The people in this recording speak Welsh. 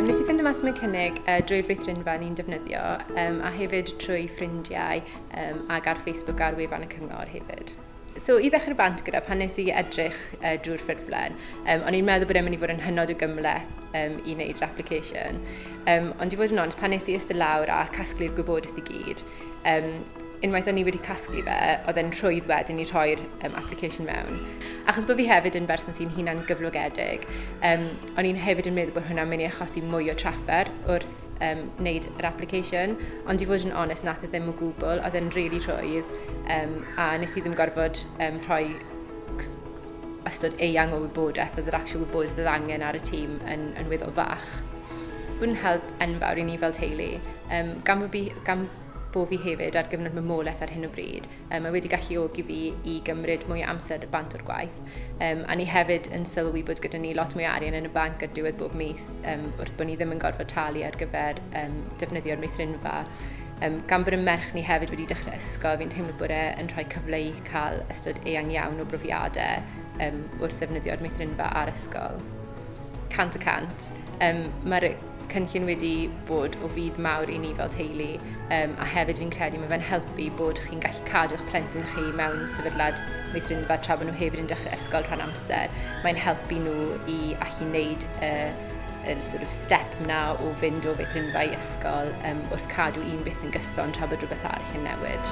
Um, nes i ffind y mas am y cynnig uh, drwy'r feithrinfa ni'n defnyddio um, a hefyd trwy ffrindiau um, ac ar Facebook ar wefan y cyngor hefyd. So i ddechrau bant gyda pan nes i edrych uh, drwy'r ffurflen, um, o'n i'n meddwl bod e'n mynd i fod yn hynod o gymleth um, i wneud yr application. Um, ond i fod yn ond, pan nes i ystod lawr a casglu'r gwybodaeth i gyd, Um, unwaith o'n i wedi casglu fe, oedd e'n rhwydd wedyn i rhoi'r um, application mewn. Achos bod fi hefyd yn berson sy'n hunan gyflogedig, um, o'n i'n hefyd yn meddwl bod hwnna'n mynd i achosi mwy o trafferth wrth um, wneud yr application, ond i fod yn onest, nath e ddim o gwbl, oedd e'n rili really rhwydd, um, a nes i ddim gorfod um, rhoi ystod eang o wybodaeth oedd yr actual wybodaeth oedd angen ar y tîm yn, yn weddol fach. Bw'n help enfawr i ni fel teulu, um, gan, bod fi, gan bod fi hefyd ar gyfnod mamolaeth ar hyn o bryd, um, mae wedi galluogi fi i gymryd mwy o amser bant o'r gwaith. Um, a ni hefyd yn sylwi bod gyda ni lot mwy arian yn y banc ar diwedd bob mis, um, wrth bod ni ddim yn gorfod talu ar gyfer um, defnyddio'r meithrinfa. Um, gan bod y merch ni hefyd wedi dechrau ysgol, fi'n teimlo bod e'n rhoi cyfle i cael ystod eang iawn o brofiadau um, wrth ddefnyddio'r meithrinfa a'r ysgol. Cant y cant. Um, Mae'r cynllun wedi bod o fydd mawr i ni fel teulu um, a hefyd fi'n credu mae fe'n helpu bod chi'n gallu cadw eich plentyn chi mewn sefydlad meithrinfa tra bod nhw hefyd yn dechrau ysgol rhan amser. Mae'n helpu nhw i allu wneud uh, yr sort of step na o fynd o feithrinfa i ysgol um, wrth cadw un beth yn gyson tra bod rhywbeth arall yn newid.